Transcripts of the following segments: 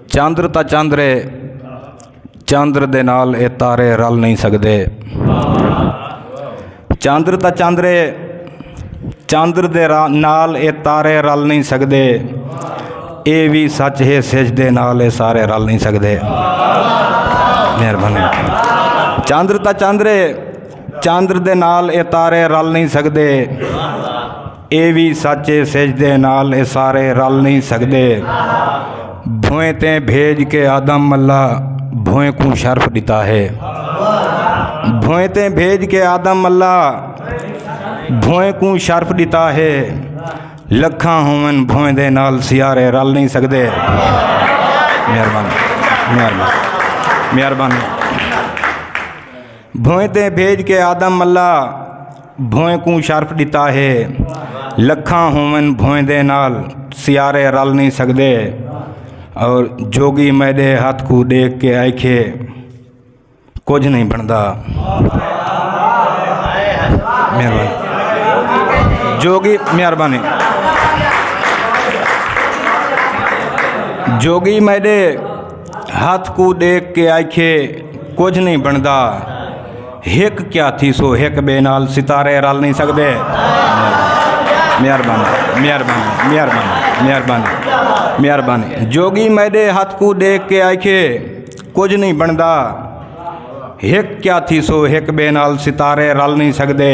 چندر تا چندر ہے چندر دے نال اے تارے رل نہیں سکدے چندر تا چندر ہے چندر دے نال اے تارے رل نہیں سکدے اے وی سچ ہے سج دے نال اے سارے رل نہیں سکدے مہربانی چندر تا چندر ہے چندر دے نال اے تارے رل نہیں سکدے اے وی سچ اے سجدے نال اے سارے رل نئیں سگدے بھوئیں تے بھیج کے آدم اللہ بھوئیں کوں شرف ڈتا ہے بھوئیں تے بھیج کے آدم اللہ بھوئیں کوں شرف ڈتا ہے لکھاں ہوون بھوئیں دے نال سیارے رل نہیں سکدے مہربانی مہربانی مہربانی بھوئیں تے بھیج کے آدم اللہ بھوئیں کوں شرف ڈتا ہے لکھاں ہوون بھوئیں دے نال سیارے رل نہیں سکدے اور جوگی میڈے ہاتھ کو دیکھ کے آئکھے کچھ نہیں بندا مہربانی جوگی مہربانی جوگی میڈے ہتھ کوں ڈیکھ کے آکھیے کجھ نہیں بنتا ہک کیا تھی سو ہک بے نال ستارے رل نہیں سکتے مہربانی مہربانی مہربانی مہربانی مہربانی جوگی میڈے ہاتھ کو دیکھ کے آئیے کچھ نہیں بنتا ہک کیا تھی سو ہک بے نال ستارے رل نہیں سکتے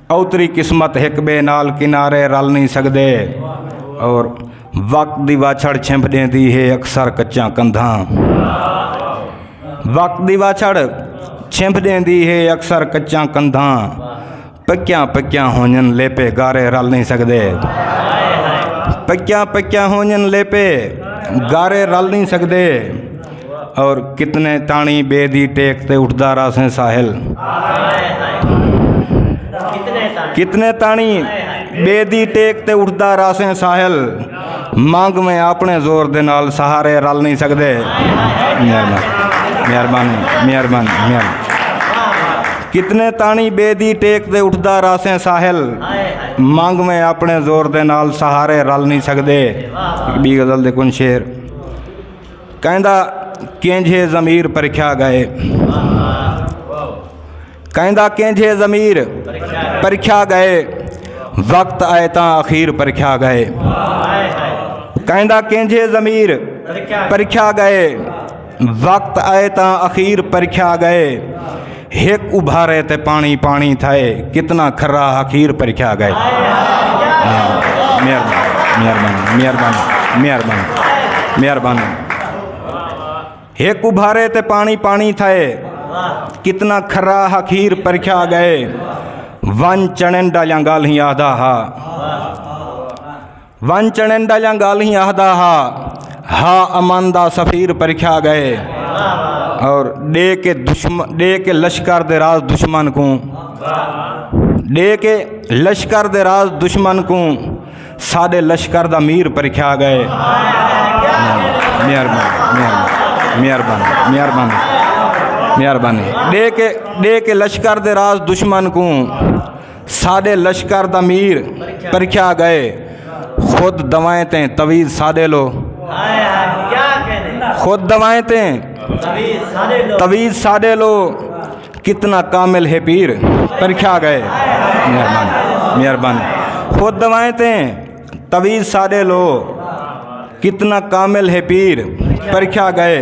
اوتری قسمت ہک بے نال کنارے رل نہیں سکدے اور وقت دی واچھڑ چھمپ دیندی ہے اکثر کچاں کندھاں وقت دی واچھڑ چھمپ دیندی ہے اکثر کچاں کندھاں پکیاں پکیاں ہونجن لیپے گارے رل نہیں سکدے پکیاں پکیاں ہونجن لیپے گارے رل نہیں سکدے اور کتنے تانی بے دی ٹیک تے اٹھدا راسیں ساحل کتنے تانی بے دی ٹیک تے اٹھدا راسیں ساحل مانگ میں اپنے زور دے نال سہارے رل نہیں سکدے مہربانی مہربانی مہربانی کتنے تانی بے دی ٹیک دے اٹھدا راسیں ساحل مانگ میں اپنے زور دے نال سہارے رل نہیں سکدے بی غزل دے کن شیر کہندا کینجھے ضمیر پرکھیا گئے کہندا کینجھے ضمیر پرکھیا گئے وقت آئے تاں اخیر پرکھیا گئے کہندا کینجھے ضمیر پرکھیا گئے وقت آئے تاں اخیر پرکھیا گئے ہک ابھارے تے پانی پانی تھائے کتنا کھرا حقیر پرکھیا گئے ہک ابھارے تے پانی پانی تھائے کتنا کھرا حقیر پرکھیا گئے ون چنن ڈالیاں گالہیں آدھا ہا ون چنڈا یا گالیں آہدا ہا ہا امن دا سفیر پرکھا گئے اور ڈے کے دشمن ڈے کے لشکر دے راز دشمن کو ڈے کے لشکر دے راز دشمن کو ساڈے لشکر دا میر پرکھا گئے مہربانی مہربانی مہربانی مہربانی ڈے کے ڈے کے لشکر دے راز دشمن کو ساڈے لشکر دا میر پرکھیا گئے خود دوائیں تیں تویز ساڈے لو خود دوائیں تیں تویز ساڈے لو کتنا کامل ہے پیر پرکھیا گئے مہربان مہربان خود دوائیں تیں تویز ساڈے لو کتنا کامل ہے پیر پرکھیا گئے